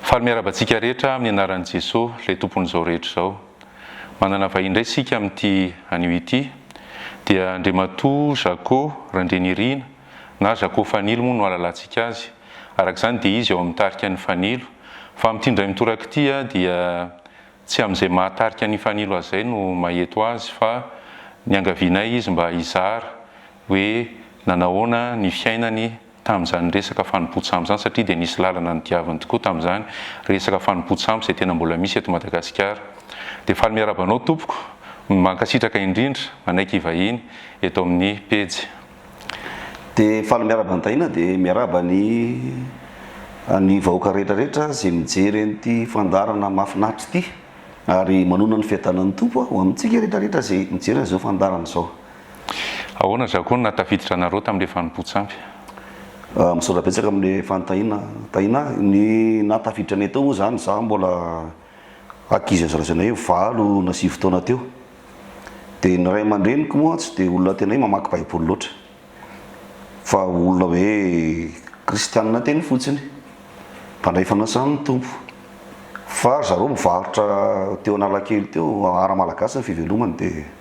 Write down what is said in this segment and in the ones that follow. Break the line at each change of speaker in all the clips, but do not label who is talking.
Faly miarahaba antsika rehetra amin'ny anaran'i Jesoa, ilay Tompon'izao rehetra izao. Manana vahiny indray isika amin'ity anio ity, dia Andriamatoa Zako Randrianirina na Zako Fanilo moa no ahalalantsika azy, araka izany dia izy ao amin'ny tarika Ny Fanilo, fa amin'ity indray mitoraka ity dia tsy amin'izay maha tarika Ny Fanilo azy izay no maheto azy fa niangavianay izy mba hizara hoe nanahoana ny fiainany tamin'izany resaka fanompoan-tsambo izany satria dia nisy lalana nodiaviny tokoa tamin'izany resaka fanompoan-tsambo izay tena mbola misy eto Madagasikara. Dia faly miarahaba anao tompoko, mankasitraka indrindra, manaiky hivahiny eto amin'ny pejy.
Dia faly miarahaba an'i Tahiana dia miarahaba ny ny vahoaka rehetra rehetra izay mijery an'ity fandaharana mahafinaritra ity ary manonona ny fiadanan'ny Tompo ho amintsika rehetra rehetra izay mijery an'izao fandaharana izao. Ahoana
Zako no nahatafiditra anareo tamin'ilay fanompoan-tsampy?
Misaotra betsaka amin'ilay fanontaniana Tahiana a! Ny nahatafiditra anay tao moa izany izaho mbola ankizy hazalazaina hoe valo na sivy taona teo. Dia ny ray aman-dreniko moa tsy dia olona tena hoe mamaky baiboly loatra fa olona hoe kristianina teny fotsiny, mpandray fanasana ny Tompo. Fa ry zareo mivarotra teo Analakely teo, Art Malagasy ny fivelomany dia.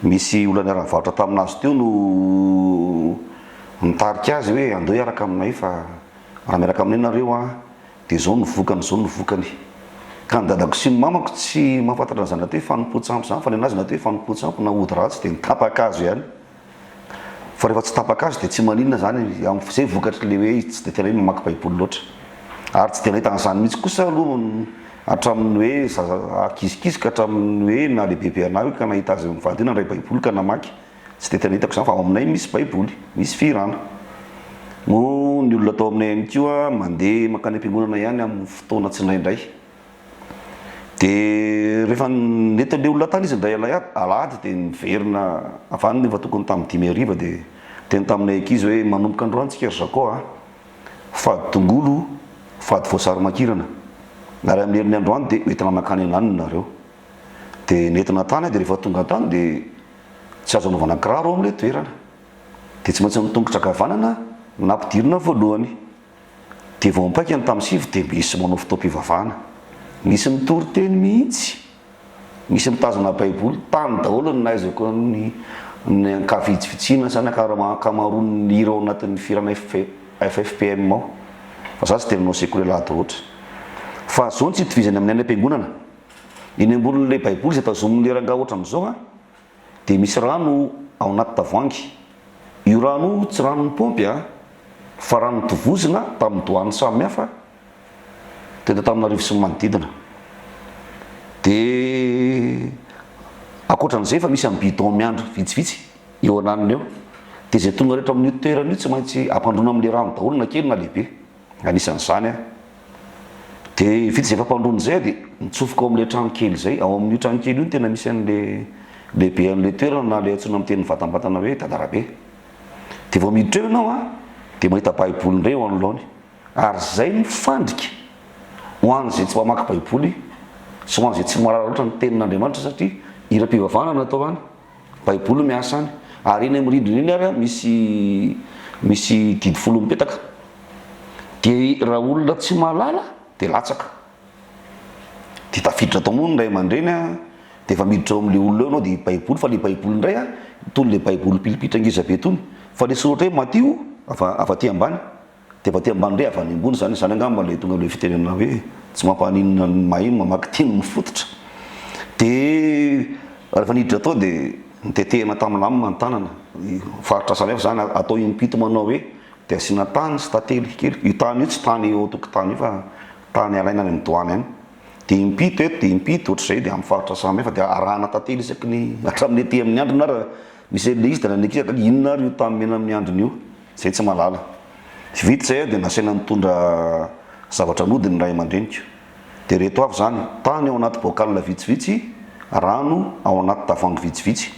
misy olona niara-nivarotra tamin'azy teo no nitarika azy hoe andeo hiaraka aminay fa raha miaraka aminay nareo an dia zao no vokany zao no vokany ka ny dadako sy ny mamako tsy mahafantatra an'izany atao hoe fanompoan-tsampy izany fa ny an'azy ny atao hoe fanompoan-tsampy na ody ratsy dia ny tapaka azo ihany Fa rehefa tsy tapaka azy dia tsy maninona izany, izay vokatry ilay hoe izy tsy dia tena hoe mamaky baiboly loatra. Ary tsy dia nahitana izany mihitsy kosa aloha hatramin'ny hoe zaza kizikizy ka hatramin'ny hoe nahalehibebe an'ahy hoe ka nahita azy mivady hoe nandray baiboly ka namaky. Tsy dia tena hitako izany fa ao aminay misy baiboly, misy fihirana. Moa ny olona tao aminay ihany koa mandeha mankany am-piangonana ihany amin'ny fotoana tsindraindray. Dia rehefa nety handeha olona tany izy indray alahady dia niverina avy any nefa tokony tamin'ny dimy hariva dia niteny tamin'ilay ankizy hoe manomboka androany tsika ry Zako a! fady tongolo, fady voasary makirana ary amin'ny herin'ny androany dia ho entina mankany an'Anny nareo. Dia nentina tany aho dia rehefa tonga tany dia tsy azo anaovana kiraro ao amin'ilay toerana dia tsy maintsy nitongotra ankavanana nampidirina voalohany. Dia vao mipaika ny tamosivy dia misy manao fotoam-pivavahana. Misy mitory teny mihitsy. Misy mitazona baiboly. Tany daholo ny nahaizako ny ny ankavitsivitsiana sa ny ankamaroan'ny hira ao anatin'ny firana FFPM ao. Fa za tsy dia nanao sekoly alahady loatra. Fa zao ny tsy itovizany amin'ny any am-piangonana. Eny ambonin'ilay baiboly izay tazomin'ilay rangahy ohatran'izao an! dia misy rano ao anaty tavoahangy. Io rano io tsy ranon'ny paompy an! fa rano notovozina tamin'ny doany samihafa teto Antananarivo sy ny manodidina. Dia ankoatran'izay efa misy amin'ny bidon miandry vitsivitsy eo ananiny eo. Dia izay tonga rehetra amin'io toerana io tsy maintsy ampandroina amin'ilay rano daholo na kely na lehibe. Anisan'izany dia vitsy izay fampandroana izay dia mitsofoka ao amin'ilay trano kely izay. Ao amin'io trano kely io no tena misy an'ilay lehibe an'ilay toerana na ilay antsoina amin'ny teny mivantambatana hoe Dadarabe. Dia vao miditra eo ianao dia mahita baiboly indray eo anoloany ary izay no fandrika ho an'izay tsy mpamaky baiboly sy ho an'izay tsy mahalala loatra ny tenin'Andriamanitra satria hiram-pivavahana no atao any. Baiboly no miasa any. Ary eny amin'ny rindrina eny ary misy misy didy folo mipetaka. Dia raha olona tsy mahalala dia latsaka. Dia tafiditra tao moa ny ray aman-dreny a, dia efa miditra ao amin'ilay olona eo ianao dia i Baiboly fa ilay Baiboly indray a, itony ilay Baiboly pilipitra ngeza be itony, fa ilay soratra hoe Matio avy avy aty ambany. Dia mba te ambandre avy any ambony izany, izany angamba ilay tonga amin'ilay fitenenana hoe tsy mampaninona ny maheno mamaky teny mifototra. Dia rehefa niditra tao dia notetehina tamin'ny lamina ny tanana, faritra samihafa izany, atao impito manao hoe, dia asiana tany sy tantely kely, io tany io tsy tany eo an-tokotany io fa tany alaina any amin'ny doany any, dia impito eto dia impito ohatr'izay, dia amin'ny faritra samihafa, dia arahana tantely isaky ny, hatramin'ny ety amin'ny andrina ary. Misy zay leisy da naneke aky ka inona ary io tany mena amin'ny andriny io? Zay tsy malala. Vita zay aho de nasaina nitondra zavatra nody ny ray aman-dreniko. De reto avy zany, tany ao anaty bocal vitsivitsy, rano ao anaty tavoangy vitsivitsy.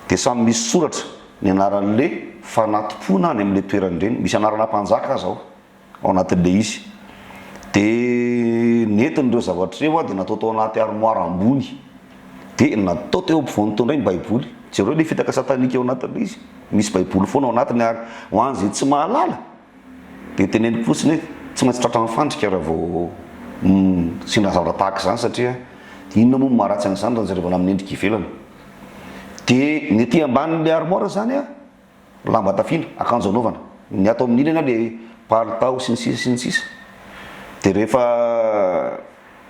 De samy misy soratra ny anaran'le fanatopona any amle toeran'ireny. Misy anarana mpanjaka aza ao. ao anatin'ilay izy. Dia nentin'ireo zavatra ireo aho dia natao tao anaty armoara ambony. Dia natao teo ampovoany teo indray ny Baiboly. Jereo ilay fitaka satanika ao anatin'ilay izy. Misy Baiboly foana ao anatiny ary ho an'izay tsy mahalala dia teneniko fotsiny hoe tsy maintsy tratran'ny fandrika raha vao sendra zavatra tahaka izany satria inona moa no maharatsy an'izany raha jerevana amin'ny endrika ivelany. Dia ny ety ambanin'ilay armoara izany an, Lamba tafiana, akanjo anaovana. Ny ato amin'ny ilany ao le palitao sy ny sisa sy ny sisa. Dia rehefa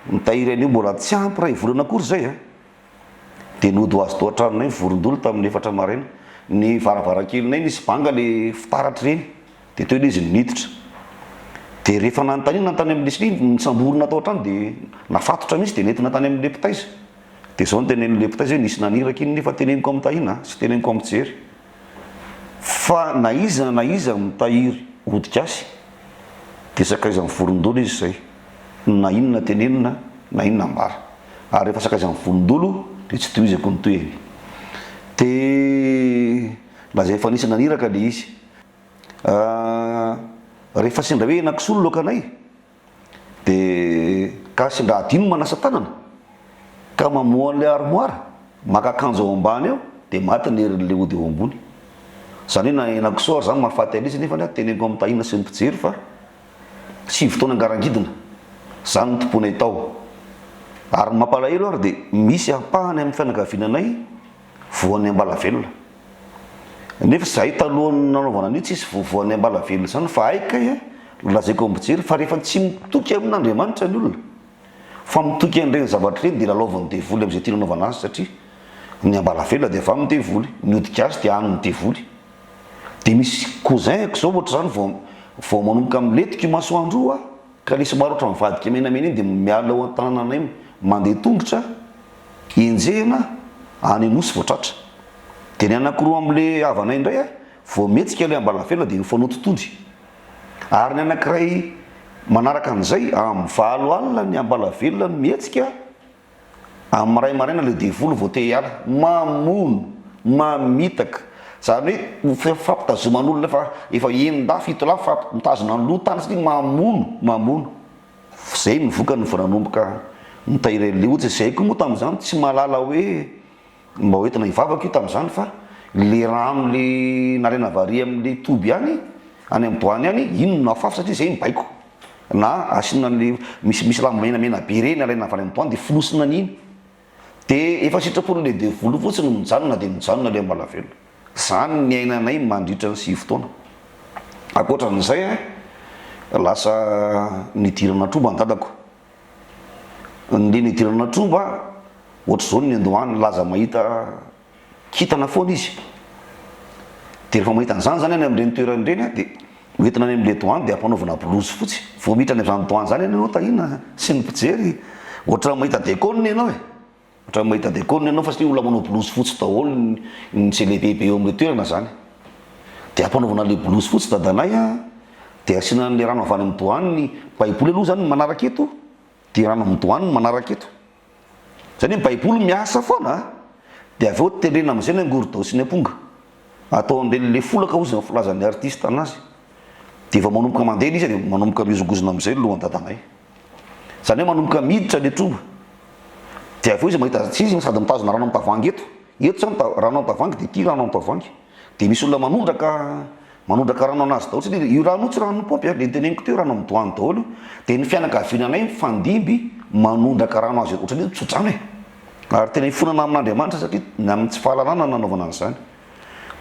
mitahiry an'io mbola tsy ampy iray volana akory izay a! Dia nody ho azy tao an-tranonay vorondolo tamin'ny efatra maraina. Ny varavarankelinay nisy banga le fitaratr'ireny dia teo ilay izy niditra. Dia rehefa nanontaniana tany amin'le sli, nisamborina tao an-trano dia nafatotra mihitsy dia nentina tany amin'le mpitaiza. Dia izao no tenenin'i Lepta izy hoe, Nisy naniraka iny nefa teneniko amin'i Tahiana sy teneniko amin'i Jery, fa na iza na iza mitahiry hodika azy, dia sakaizan'ny vorondolo izy izay, na inona tenenina na inona ambara. Ary rehefa sakaizan'ny vorondolo, dia tsy tohizako ny tohiny. Dia lazainy fa nisy naniraka ilay izy. Rehefa sendra hoe henak'isolo loakanay? Dia gasy nga adino manasa tanana ka mamoha an'ilay armoire, maka akanjo ao ambany ao dia maty ny herin'ilay ody ao ambony. Izany hoe na henakisoa ary izany mahafaty an'izy nefany aho teneniko amin'i Tahiana sy ny mpijery fa sivy taona nga rangidina, izany no tompoinay tao. Ary ny mampalahelo ary dia misy ampahany amin'ny fianakaviananay, voan'ny ambalavelona. Nefa izahay talohan'ny nanaovana an'io tsisy voa voan'ny ambalavelona izany fa hay kay a, nolazaiko ambojery fa rehefa tsy mitoky amin'Andriamanitra ny olona fa mitoky an'ireny zavatra ireny dia lalaovin'ny devoly amin'izay tiany hanaovana azy satria ny ambalavelona dia avy amin'ny devoly, ny hodika azy dia an'ny devoly. Dia misy cousin-ko izao ohatr'izany vao vao manomboka milentika io masoandro io a! Ka nisy maro ohatran'ny vadika menamena iny dia miala ao an-tanananay mandeha tongotra enjehina any Anosy vao tratra. Dia ny anankiroa amin'ilay havanay indray vao mihetsika ilay ambalafela dia nifanoto tody. Ary ny anankiray manaraka an'izay amin'ny valo alina ny ambalavelona no mihetsika. Amin'ny maray maraina ilay devoly vao te hiala, mamono, mamitaka, izany hoe fampitazoman'olona efa efa enin-dahy, fito lahy fa mitazona ny loha tany satria mamono, mamono. Izay no vokany vao nanomboka nitahiry an'ilay otsy, izay koa moa tamin'izany tsy mahalala hoe. Mba ho entina hivavaka io tamin'izany fa le rano le nalaina vary amle toby ihany any amin'ny boany any iny no nafafy satria zay mibaiko na asiana anle misy misy raha menamena be reny alaina avy any amin'ny boany de fonosina an'iny de efa sitrapo le devoly fotsiny no mijanona de mijanona le ambala velona. Zany niainanay mandritra ny sivy taona. Ankoatran'izay an lasa nidirana troba ny dadako. Nandre ny hidirana tromba a! Ohatr'izao ny niandohany nilaza mahita kintana foana izy. Dia rehefa mahita an'izany izany any amin'ireny toerana ireny a, dia ho entina any amin'ilay douane dia ampanaovina blouse fotsy. Vao miditra any amin'izany douane izany ianao tahiana sy ny mpijery. Ohatran'ny mahita déconne ianao e! Otrany mahita deconne ianao fa satria olona manao blouse fotsy daholo ny celebebe eo amle toerana zany de ampanaovina le blouse fotsy dadanay a de asiana anle rano avy any am douane ny baiboly aloha zany ny manaraka eto de rano am douane ny manaraka eto zany hoe baiboly miasa foana a de avy eo tendrena amzay ny angorodao sy ny aponga atao amle le folaka ozy ny filazany artiste anazy de vao manomboka mande le izy de manomboka mihozongozona amzay ny lohan dadanay. Izany hoe manomboka miditra le troba. Dia avy eo izy mahita tsy izy sady mitazona rano amin'ny tavoahangy eto. Eto zany ta- rano amin'ny tavoahangy dia ity rano amin'ny tavoahangy. Dia misy olona manondraka manondraka rano anazy daholo satria io rano io tsy ranon'ny paompy a, le niteneniko teo rano amin'ny doany daholo io. Dia ny fianakaviananay mifandimby manondraka rano azy eo. Ohatran'ny hoe tso-drano e. Ary tena ifonana amin'Andriamanitra satria ny amin'ny tsy fahalalana no nanaovana an'izany.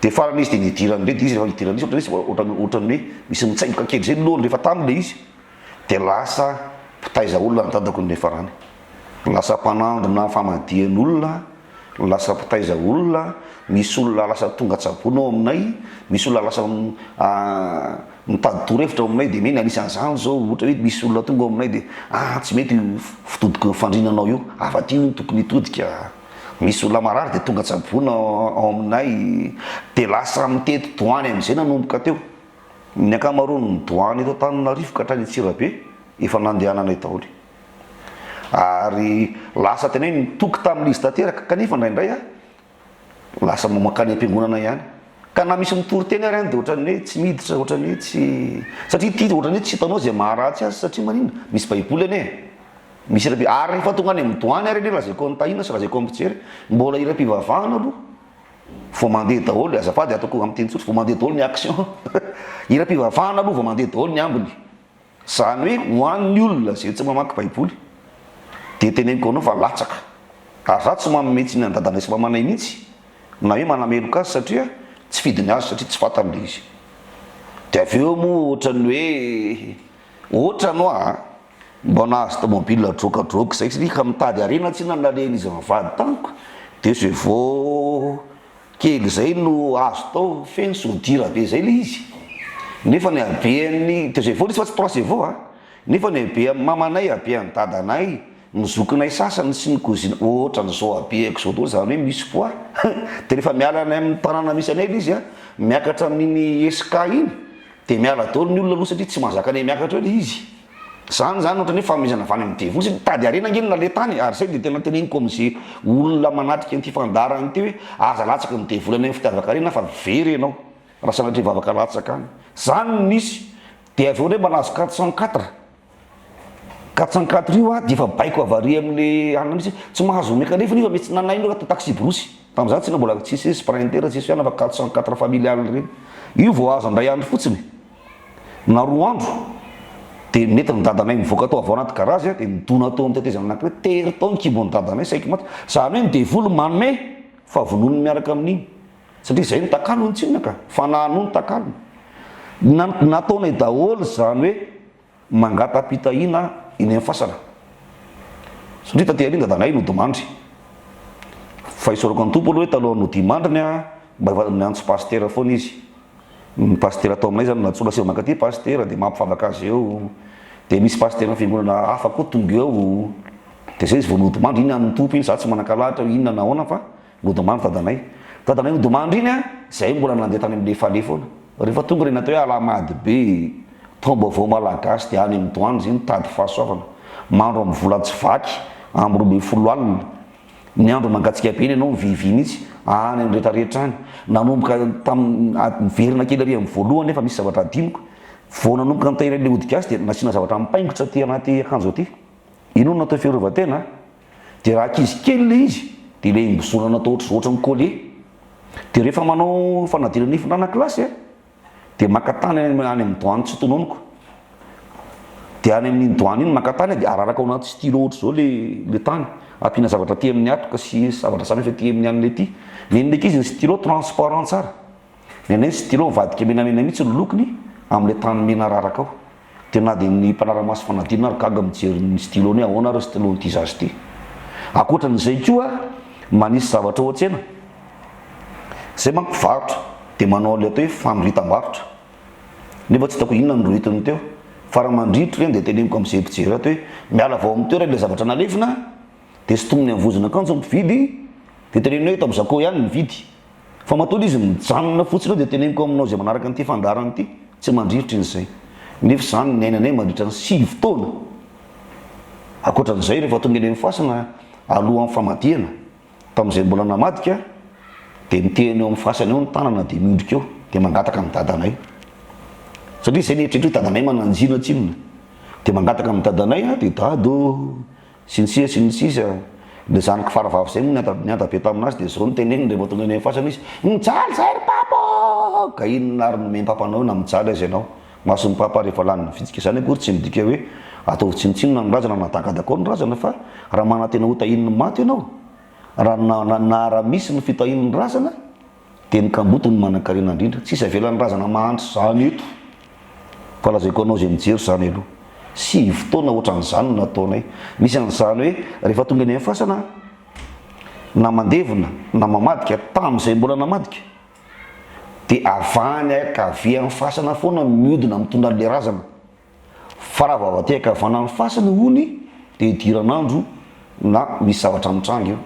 Dia farany izy dia nidiran'ireny dia izy rehefa idiran'izy ohatran'ny hoe ohatran'ny ohatran'ny hoe misy mitsaingoka kely zay ny lohany rehefa tany le izy. dia lasa mpitaiza olona ny dadako ny farany. Lasa mpanandrina famadihan'olona, lasa mpitaiza olona, misy olona lasa tonga an-tsabony ao aminay, misy olona lasa mitady torohevitra ao aminay dia mey ny anisan'izany izao ohatra hoe misy olona tonga ao aminay dia ah tsy mety io fitodiko ny fandrinanao io, avy aty hono tokony hitodika, misy olona marary dia tonga an-tsabony ao aminay, dia lasa mitety doany amin'izay nanomboka teo. Ny ankamaroan'ny douane eto Antananarivo ka hatrany Antsirabe efa nandehananay daholo ary lasa tena hoe nitoky tamin'izy tanteraka kanefa indraindray aho lasa mankany am-piangonana ihany ka na misy mitory teny ary aho dia ohatran'ny hoe tsy miditra ohatran'ny hoe tsy satria ity ohatran'ny hoe tsy hitanao izay maharatsy azy satria maninona misy baiboly anie misy iram-pi- ary rehefa tonga any amin'ny douane ary anie lazaiko an'i Tahiana sy lazaiko amin'ny mpijery mbola iram-pivavahana aloha Vao mandeha daholo, azafady ataoko amin'ny teny tsotra, vao mandeha daholo ny action. Hiram-pivavahana aloha vao mandeha daholo ny ambiny. Izany hoe ho an'ny olona izay tsy mamaky Baiboly dia teneniko anao fa latsaka. Ary izaho tsy manome tsiny an-dadanay sy mamanay mihitsy na hoe manameloka azy satria tsy fidiny azy satria tsy fantany ilay izy. Dia avy eo moa ohatran'ny hoe, ohatran'ny hoa a! Mba nahazo tomobile drôkadrôka zay tsy ka mitady harena tsy na naleny izy mivady tamiko de zay vao kely zay no azo tao feno sodira be zay le izy nefa ny habeany de zay vao le izy fa tsy trois cvo a nefa ny habeany mamanay habeany dadanay ny zokinay sasany sy ny kozina otrany zao habeko zao daholo zany hoe misy poids de refa miala any aminy tanana misy anay le izy a miakatra amin'iny SK iny. Dia miala daholo ny olona aloha satria tsy mahazaka an'ilay miakatra eo ilay izy. Izany izany ohatran'ny hoe fanomezana avy any amin'ny devoly satria mitady harena ange ny laletany e! Ary izay dia tena teneniko amin'izay olona manatrika an'ity fandaharana ity hoe aza latsaka ny devoly any amin'ny fitiavan-karena fa very ianao raha sanatria hivavaka latsaka any. Izany no misy. Dia avy eo indray mba nahazo quatre cent quatre. Katsankatry io a, dia efa baiko havari amin'ilay alina mihitsy hoe tsy mahazo omeka nefany io fa misy nanaino raha taxi-brousse. Tamin'izany tsinona mbola tsisy hoe sprinter, tsisy hoe anona fa quatre cent quatre familiale ireny. Io vao azo indray andro fotsiny e! Na roa andro dia nety ny dadanay nivoaka tao avy ao anaty garage a, dia nidona tao amin'ny tetezana anankiray, tery tao ny kibo an'i dadanay, saiky maty. Izany hoe ny devoly manome fa vonoiny miaraka amin'iny. Satria izay no takalony tsinona ka! Fanahy no takalony. Na nataonay daholo izany hoe mangata-pitahiana eny amin'ny fasana. Satria taty aoriana dadanay nodimandry. Fa isaorako an'i Tompo aloha hoe talohan'ny hodimandriny mba efa niantso pasitera foana izy. Ny pasitera ato aminay izany nantsoina asio mankaty pasitera dia mampivavaka azy eo. Dia misy pasiteran'ny fiangonana hafa koa tonga eo. Dia izay izy vao nodimandry, iny an'ny Tompo iny, izaho tsy manan-kalahatra hoe inona na ahoana fa Nodomany dadanay. Dadanay nodomandry iny an! Zahay mbola nandeha tany amin'ny fale foana. Rehefa tonga ireny atao hoe Alahamady be, taom-baovao malagasy dia any amin'ny douanes iny tady fahasoavana. Mandro amin'ny vola tsy vaky, amin'ny roa ambin'ny folo alina. Ny andro mangatsiaka be iny ianao mivivy mihitsy, any amin'ny rehetra rehetra any. Nanomboka tamin'ny, miverina kely ary amin'ny voalohany nefa misy zavatra hadinoko. Vao nanomboka nitahiana ilay ody gasy dia nasiana zavatra mipaingotra aty anaty akanjo aty. Inona no natao fiarovan-tena? Dia raha ankizy kely ilay izy dia ilay mizorana atao ohatr ohatran'ny collier. Dia rehefa manao fanadina nify ny ranakilasy a, dia maka tany any amin'ny any amin'ny doany tsy tononiko. Dia any amin'iny doany iny maka tany a, dia araraka ao anaty stylo ohatra izao ilay ilay tany, ampiana zavatra aty amin'ny hatoka sy zavatra samihafa aty amin'ny an'ilay ity. Nen'ilay ankizy ny stylo transparent tsara. Ny anay ny stylo mivadika menamena mihitsy ny lokony amin'ilay tany mena raraka ao. Dia na dia ny mpanara-maso fanadinana ary gaga mijery ny stylo ny hoe ahoana ary io stylo an'ity zaza ity. Ankoatran'izay koa manisy zavatra ao an-tsena izay manko mpivarotra dia manao an'ilay atao hoe fanoritam-barotra nefa tsy hitako inona no noritiny teo. Fara mandritra ireny dia teneniko amin'izay mpijery ato hoe miala avy ao amin'ny toerana ilay zavatra nalefina dia sintominy amin'ny vozon'akanjo ny mpividy dia teneniny hoe eto amin'ny Zaco ihany ny mividy. Fa matoa izy mijanona fotsiny eo dia teneniko aminao izay manaraka an'ity fandaharana ity, tsy mandriritra in'izay. Nefa izany niainanay mandritra ny sivy taona. Ankoatran'izay, rehefa tonga eny amin'ny fasana alohan'ny famadihana, tamin'izay mbola namadika, dia mitehana eo amin'ny fasana eo ny tanana dia miondrika eo, dia mangataka amin'i dadanay. Satria izay ny eritreritro hoe dadanay mananjina tsinona. Dia mangataka amin'i dadanay aho, dia dada ô, Sy ny sisa sy ny sisa. Ilay zanako faravavy izay moa niada be tamin'azy dia izao no teneniny rehefa tonga eny amin'ny fasana izy, Mijaly izay ry Papa ô! Ka inona ary no omem-papanao eo na mijaly aza ianao? Mason'i Papa rehefa lany ny vitsika. Izany akory tsy midika hoe ataovy tsinontsinona ny razana na tagadakao ny razana fa raha manantena hotahian'ny maty ianao, raha na-na-na raha misy ny fitahian'ny razana, Dia ny kamboty no manankarena indrindra. Tsisy avelan'ny razana mahantra izany eto. Fa lazaiko anao izay mijery izany aloha. Sivy taona ohatran'izany no nataonay. Misy an'izany hoe rehefa tonga eny amin'ny fasana na mandevina na mamadika, tamin'izay mbola namadika, dia avy any ankavia amin'ny fasana foana miodina mitondra an'ilay razana. Fa raha vao te-haka havana ny fasana hono dia idiran'andro na misy zavatra mitranga eo.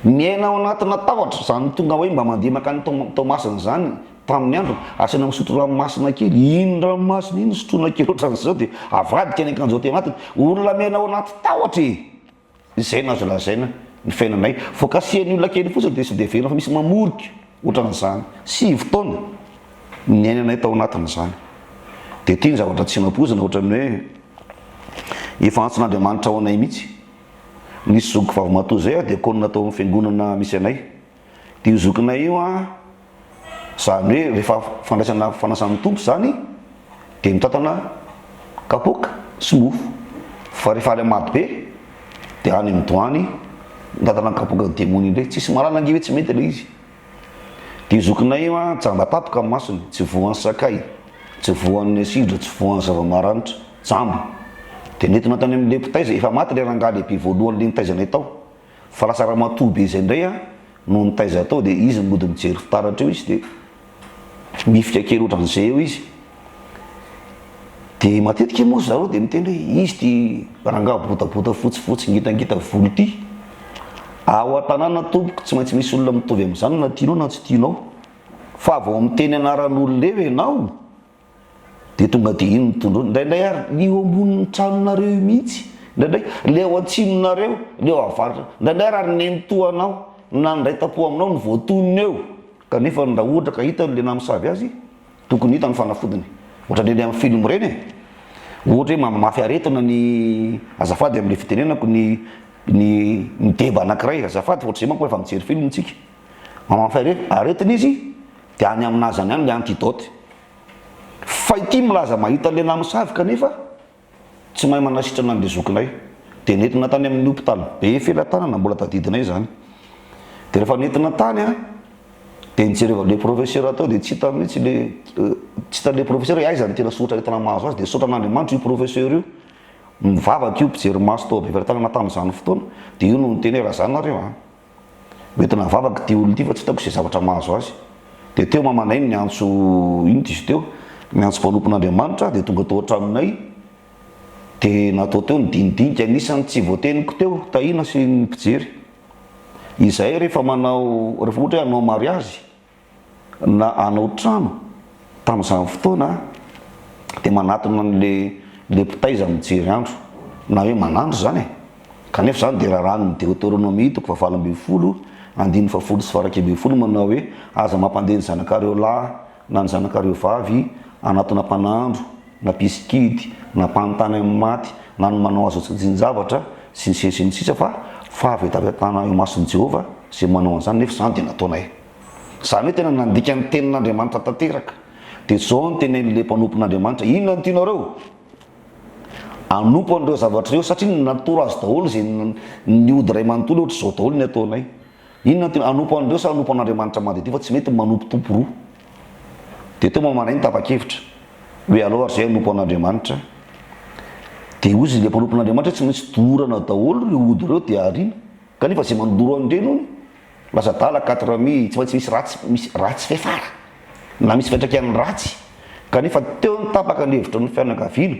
Miaina ao anatina tahotra, izany tonga hoe mba mandeha mankany Toamasina izany tamin'ny androny, asaina misotro rano masina kely, iny rano masina iny sotroina kely ohatran'izao dia avadika ny akanjo aty anatiny. Olona miaina ao anaty tahotra e! Izay no azo lazaina ny fiainanay. Vao kasihan'ny olona kely fotsiny dia sode velona fa misy mamorika ohatran'izany. Sivy taona no niainanay tao anatin'izany. Dia ity ny zavatra tsy nampoizina ohatran'ny hoe efa antsoin'Andriamanitra ho anay mihitsy. Nisy zoky vavimatoa izay aho, diakona tao amin'ny fiangonana misy anay. Io zokinay io an, zany hoe rehefa fandraisana fanasan'ny Tompo zany dia mitantana kapoaka sy mofo, fa rehefa any Mado be dia any amin'ny doany mitantana kapoaka demony iny ndray, tsisy mahalala ange hoe tsy mety ilay izy. Dia io zokinay io an, jamba tampoka ny masony, tsy voan'ny sakay, tsy voan'ny asidra, tsy voan'ny zava-maranitra, jamba. Dia nentina tany amin'ilay mpitaiza, efa maty ilay rangahy lehibe voalohany le nitaizanay tao. Fa lasa ramatoa be izay indray an, noho ny taiza atao dia izy no mody mijery fitaratra eo izy dia mifika kely ohatran'izay eo izy. Dia matetika moa zareo dia miteny hoe izy ity rangahy botabota fotsifotsy ngitangita volo ity. Ao an-tanàna tompoko tsy maintsy misy olona mitovy amin'izany na tianao na tsy tianao. Fa vao miteny anaran'olona eo ianao Dia tonga dia iny ny tondroiny. Indraindray ary ny eo ambonin'ny tranonareo io mihitsy. Indraindray ilay ao an-tsinonareo, ilay ao avaratra. Indraindray ary ary nenitoa anao, nandray tam-po aminao no voatonona eo. Kanefa raha ohatra ka hitany ilay namisavy azy, tokony hitany ny fanafodiny. Ohatran'ny eny amin'ny film ireny e. Ohatra hoe mamimafy aretina ny, azafady amin'ilay fitenenako, ny ny deba anankiray. Azafady fa ohatr'izay manko efa mijery film isika. Maman Fay re, aretina izy de any aminazy any ihany le antidote. Fay ity milaza mahita lehilahy misavy kanefa tsy mahay manasitrana an'le zokinay. De nentina tany amin'ny hopitaly be felatanana mbola tadidinay izany. De rehefa nentina tany an, de nijereva le professeur tao de tsy hita mihitsy le tsy hitan'le professeur hoe aiza ny tena soratra aretina mahazo azy de nisaotra an'Andriamanitra io professeur io. Nivavaka io mpijery maso tao be felatanana tamin'izany fotoana de io no niteny hoe raha zany nareo an. Mety navavaka ity olona ity fa tsy hitako izay zavatra mahazo azy. Dia teo mamanay no niantso, inona izy teo? Niantso mpanompon'Andriamanitra, dia tonga tao an-tranonay. Dia natao teo ny dinidinika, anisan'ny tsy voateniko teo, Tahiana sy ny mpijery. Izahay rehefa manao, rehefa ohatra hoe hanao mariazy, na hanao trano tamin'izany fotoana dia manatona an'ilay ilay mpitaiza mijery andro na hoe manandro izany e! kanefa izany dia raràn'ny Deoteronomia toko fahavalo ambin'ny folo andininy fahafolo sy faharaika ambin'ny folo manao hoe aza mampandeha ny zanakareo lahy na ny zanakareo vavy hanatona mpanandro na mpisikidy, na mpanontany amin'ny maty, na ny manao azo antsajin-javatra, sy ny sisa sy ny sisa, fa fahavetavetana eo imason'i Jehovah izay manao an'izany, nefa izany dia nataonay. Izany hoe tena nandika ny tenin'Andriamanitra tanteraka. Dia izao no tenenin'ilay mpanompon'Andriamanitra, Inona no tianareo? Hanompo an'ireo zavatra ireo, satria natoro azy daholo izay niody iray manontolo, hoatr'izao daholo ny ataonay. Inona no tianareo? Hanompo an'ireo sa hanompo an'Andriamanitra madidio, fa tsy mety ny manompo tompo roa. Dia teo mamandraigny tapa-kevitra hoe aleo ary izay hanompo an'Andriamanitra. Dia hozy ilay mpanompo an'Andriamanitra hoe tsy maintsy dorana daholo ireo ody ireo dia ariana. Kanefa izay mandoro an'ireny hono lasa adala, quatre amis, tsy maintsy misy ratsy, misy ratsy fiafara na misy fiantraikany ratsy. Kanefa teo ny tapaka ny hevitra ny fianakaviana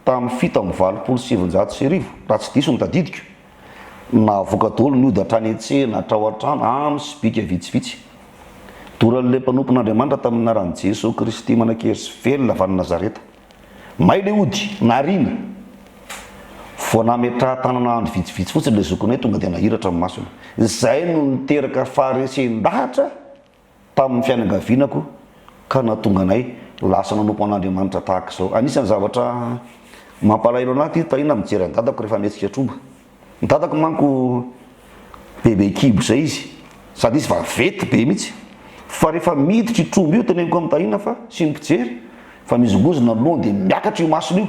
tamin'ny fito amby valopolo sy sivinjato sy arivo raha tsy diso ny tadidiko. Nahavoaka daholo ny ody hatrany an-tsena, hatrao an-trano, amin'ny sobika vitsivitsy. Doran'ilay mpanompon'Andriamanitra tamin'ny anaran'i Jesoa Kristy manan-kery sy velona avy any Nazareta. May ilay ody, nariana. Vao nametrahan-tanana andro vitsivitsy fotsiny ilay zokinay tonga dia nahiratra ny masony. Izay no niteraka faharesen-dahatra. tamin'ny fianakavianako ka nahatonga anay lasa nanompo an'Andriamanitra tahaka izao. Anisan'ny zavatra mampalahelo anahy ity tahiana mijery an'i dadako rehefa mihetsika tromba. Ny dadako manko bebe kibo izay izy sady izy vaventy be mihitsy fa rehefa miditra io tromba io teneniko amin'i tahiana fa sy ny mpijery fa mizongozona ny lohany dia miakatra io masony io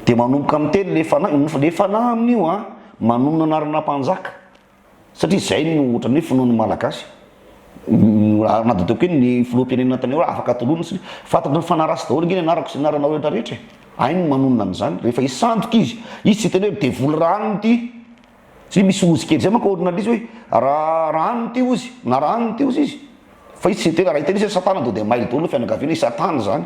dia manomboka miteny le fanahy, le fanahy amin'io an manonona anarana mpanjaka. Satria izay no ohatran'ny hoe finoan'ny Malagasy. Ary na dia ataoko hoe ny filoham-pirenena tany aloha afaka tolorina satria fantatry ny fanahy ratsy daholo ange ny anarako sy ny anaranao rehetra rehetra e! Hainy ny manonona an'izany rehefa hisandoka izy. Izy tsy hiteny hoe midevoly raha anona ity. Satria misy ozy kely izay manko ao aorinan'ilay izy hoe raha raha anona ity ozy na raha anona ity ozy izy. Fa izy tsy hiteny, raha hiteny izy hoe satana dia mailo daholo ny fianakaviana, i satana izany.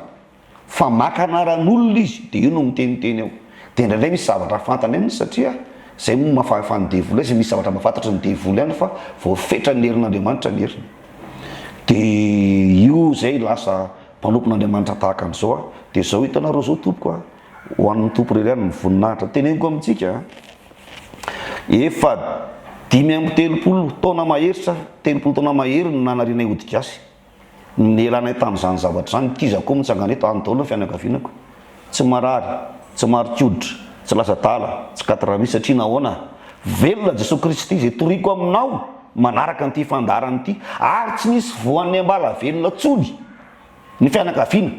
fa maka anaran'olona izy dia eo no miteniteny eo dia indraindray misy zavatra fantany aminy satria izay moa maha fahefan'ny devoly azy misy zavatra mba fantatry ny devoly ihany fa voafetra ny herin'Andriamanitra ny heriny dia io izay lasa mpanompon'Andriamanitra tahaka an'izao aho dia izao hitanareo izao tompoko a ho an'ny tompo irery ihany ny voninahitra teneniko amintsika efa dimy amby telopolo taona mahery sa telopolo taona mahery no nanarianay ody gasy Nilanay tamin'izany zavatra izany. Kizako koa mitsangana eto, any daholo ny fianakavianako. Tsy marary, tsy marika hoditra, tsy lasa adala, tsy quatre ravi satria nahoana? Velona Jesoa Kristy izay toriko aminao manaraka an'ity fandaharana ity. Ary tsy nisy voan'ny ambalavelona intsony ny fianakaviana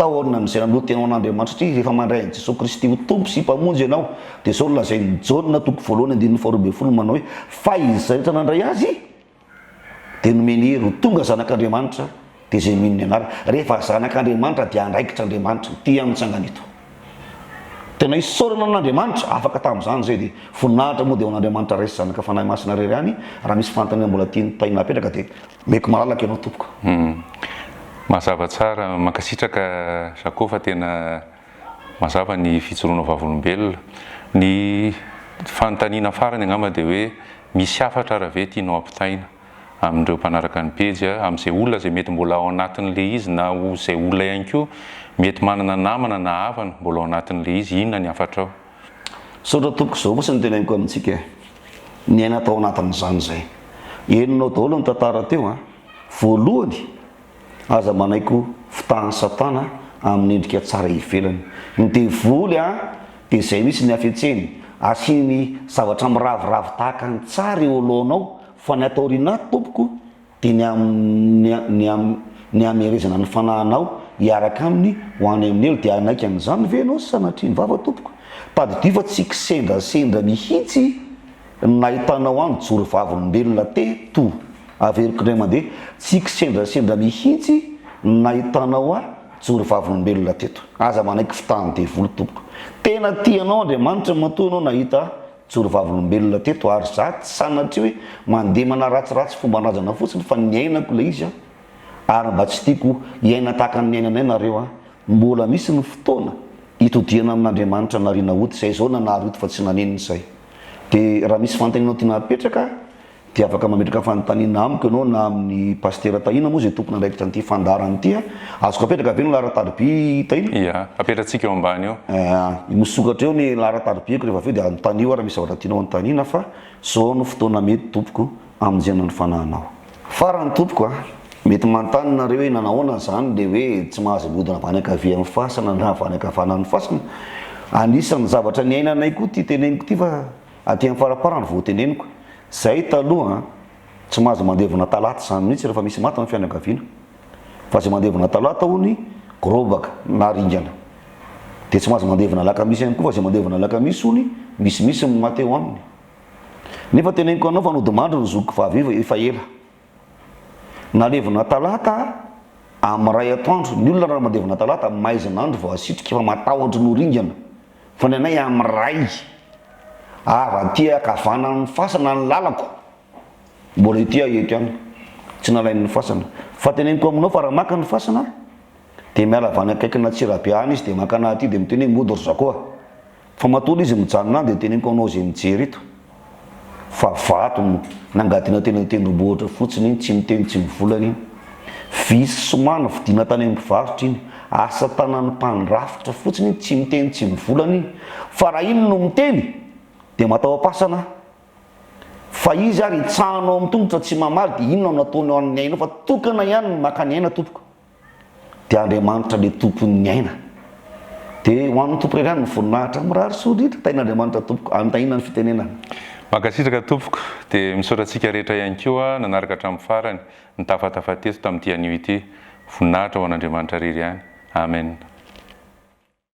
taoriana amin'izay nanolo tena ho an'Andriamanitra satria rehefa mandray an'i Jesoa Kristy ho Tompo sy Mpamonjy ianao dia izao no lazain'i Jaona toko voalohany andininy faharoa ambin'ny folo manao hoe, Fa izay rehetra nandray Azy, Dia nomeny hery ho tonga zanak'Andriamanitra, dia izay mino ny anarany. Rehefa zanak'Andriamanitra dia andraikitra Andriamanitra ity amin'ny tsangana ito. Tena isaorana an'Andriamanitra afaka tamin'izany izay dia voninahitra moa dia ho an'Andriamanitra Ray sy Zanaka Fanahy Masina irery ihany raha misy fanontaniana mbola tian'ny Mpitaingina hapetraka dia omeko malalaka ianao tompoko.
Mazava tsara, mankasitraka Jaco fa tena mazava ny fijoroana vavolombelona. Ny fanontaniana farany angamba dia hoe misy hafatra ara ve tianao ampitaina amin'ireo mpanaraka ny pejy a, amin'izay olona izay mety mbola ao anatin'ilay izy na ho izay olona ihany koa mety manana namana na havana mbola ao anatin'ilay izy, inona ny hafatrao? Misaotra
tompoko, izao kosa no teneniko amintsika e, niaina tao anatin'izany izay. Henonao daholo ny tantara teo a, voalohany Aza manaiky ho fitahan'i Satana amin'ny endrika tsara ivelany. Ny devoly dia izay mihitsy ny hafetseny, asiany zavatra miraviravy tahaka ny tsara eo alohanao, fa ny ato aoriana ato tompoko dia ny hamerezana ny fanahinao hiaraka aminy ho any amin'ny helo, dia hanaiky an'izany ve ianao sanatria ny vava tompoko? Tadidio fa tsy kisendrasendra mihitsy. Ny nahitanao ahy nijoro vavolombelona teto, averiko indray mandeha, tsy kisendrasendra mihitsy ny nahitanao ahy nijoro vavolombelona teto. Aza manaiky fitahan'ny devoly tompoko. Tena tia anao Andriamanitra matoa ianao nahita ahy nijoro vavolombelona teto ary za tsy sanatria hoe mandeha manaratsiratsy fomban-drazana fotsiny fa niainako ilay izy aho ary mba tsy tiako hiaina tahaka ny niainanay nareo aho. Mbola misy ny fotoana hitodihana amin'Andriamanitra nariana ody izay izao nanary ody fa tsy nanenina izay. Dia raha misy fanontanianao tiana apetraka dia afaka mametraka fanontaniana amiko ianao na amin'ny Pasitera Tahina moa izay tompon'andraikitra an'ity fandaharana ity a. Azoko apetraka ve ny laharan-tariby Tahina? Ia, apetratsika eo
ambany eo. Aa, misokatra eo
ny laharan-taribiako rehefa avy eo dia anontanio aho raha misy zavatra tianao anontaniana fa zao no fotoana mety tompoko. hamonjena ny fanahinao. Farany tompoko a! Mety manontany nareo hoe nanahoana zany le hoe tsy mahazo mihodina avy any ankavia amin'ny fasana na avy any ankavanana amin'ny fasana? Anisan'ny zavatra niainanay koa ty teneniko ty fa aty amin'ny faraparany vao teneniko. Zahay taloha a! Tsy mahazo mandevina talata zany mihitsy rehefa misy maty ny fianakaviana. Fa zay mandevina talata hono gorobaka na ringana. De tsy mahazo mandevina alakamisy ihany koa fa zay mandevina alakamisy hono misimisy ny maty ao aminy. Nefa teneniko anao fa nodimandry ny zokiko vavy io efa ela. Nalevina talata am iray atoandro, ny olona raha mandevina talata am maizina andro vao asitrika fa matahotry ny ho ringana, fa ny anay am iray, avy aty akavanana ny fasana ny lalako, mbola ity aho eto ihany, tsy nalain ny fasana, fa teneniko aminao fa raha maka ny fasana dia miala avy any akaikina Antsirabe any izy dia mankana aty dia miteny hoe mody ry zakoa. Fa matoa izy mijanona any dia teneniko anao izay mijery eto fa vato no nangadiana teny an-tendrombohitra fotsiny iny, tsy miteny tsy mivolana iny. Vy sy soma novidiana tany amin'ny mpivarotra iny, asa tanan'ny mpandrafitra fotsiny iny, tsy miteny tsy mivolana iny. Fa raha iny no miteny dia mataho-pasana aho. Fa izy ary hitsahana ao amin'ny tongotra tsy mamaly dia inona no nataony ho an'ny aina eo fa tokana ihany ny maka ny aina tompoko. de Andriamanitra le tompon'ny aina de ho an'ny Tompo irery ihany ny voninahitra, mirary soa indrindra, tahin'Andriamanitra tompoko, any tahina ny fitenenana. Mankasitraka
tompoko, de misaotra antsika rehetra ihany koa nanaraka hatramin'ny farany, nitafatafa teto tamin'ity anio ity, voninahitra ho an'Andriamanitra irery ihany, Amen.